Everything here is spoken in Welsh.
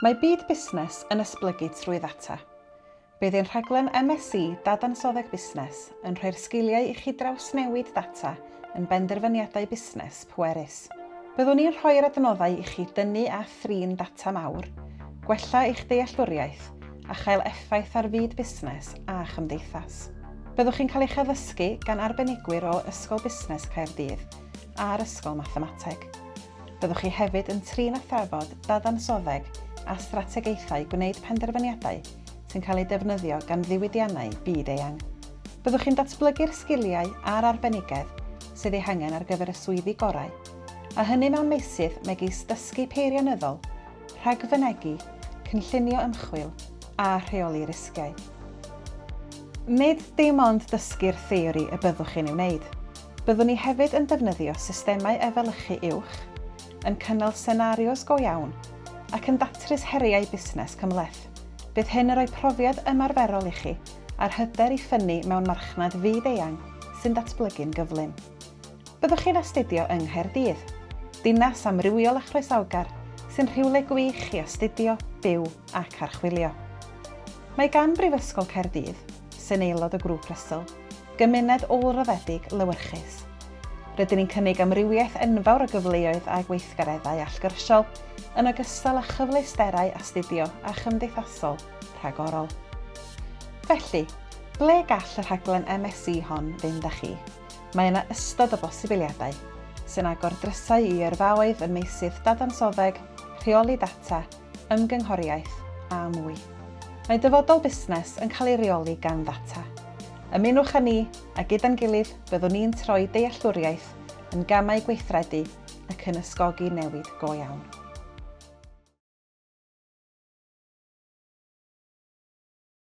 Mae byd busnes yn esblygu trwy ddata. Bydd ein rhaglen MSc Dadansoddeg Busnes yn rhoi'r sgiliau i chi drawsnewid data yn benderfyniadau busnes pwerus. Byddwn ni'n rhoi'r adnoddau i chi dynnu a thrin data mawr, gwella eich dealltwriaeth a chael effaith ar fyd busnes a chymdeithas. Byddwch chi'n cael eich addysgu gan arbenigwyr o Ysgol Busnes Caerdydd a'r Ysgol Mathemateg. Byddwch chi hefyd yn trin a thrafod dadansoddeg a strategaethau gwneud penderfyniadau sy'n cael eu defnyddio gan ddiwydiannau byd-eang. Byddwch chi'n datblygu'r sgiliau a'r arbenigedd sydd eu hangen ar gyfer y swyddi gorau, a hynny mewn meysydd megis dysgu peirianyddol, rhagfynegi, cynllunio ymchwil a rheoli risgiau. Nid dim ond dysgu'r theori y byddwch chi'n ei wneud, Byddwn ni hefyd yn defnyddio systemau efelychu uwch, yn cynnal senarios go iawn, ac yn datrys heriau busnes cymhleth. Bydd hyn yn rhoi profiad ymarferol i chi a'r hyder i ffynnu mewn marchnad fyd-eang sy'n datblygu'n gyflym. Byddwch chi'n astudio yng Nghaerdydd, dinas amrywiol a chroesawgar sy'n rhywle gwych i astudio, byw ac archwilio. Mae gan Brifysgol Caerdydd sy'n aelod o Grŵp Russell, gymuned ôl-raddedig lewyrchus. Rydyn ni'n cynnig amrywiaeth enfawr o gyfleoedd a gweithgareddau allgyrsiol, yn ogystal â chyfleusterau astudio a chymdeithasol rhagorol. Felly, ble gall y rhaglen MSc hon fynd â chi? Mae yna ystod o bosibiliadau, sy'n agor drysau i yrfaoedd ym meysydd dadansoddeg, rheoli data, ymgynghoriaeth a mwy. Mae dyfodol busnes yn cael ei reoli gan ddata. Ymunwch â ni, a gyda'n gilydd byddwn ni'n troi dealltwriaeth yn gamau gweithredu ac yn ysgogi newid go iawn.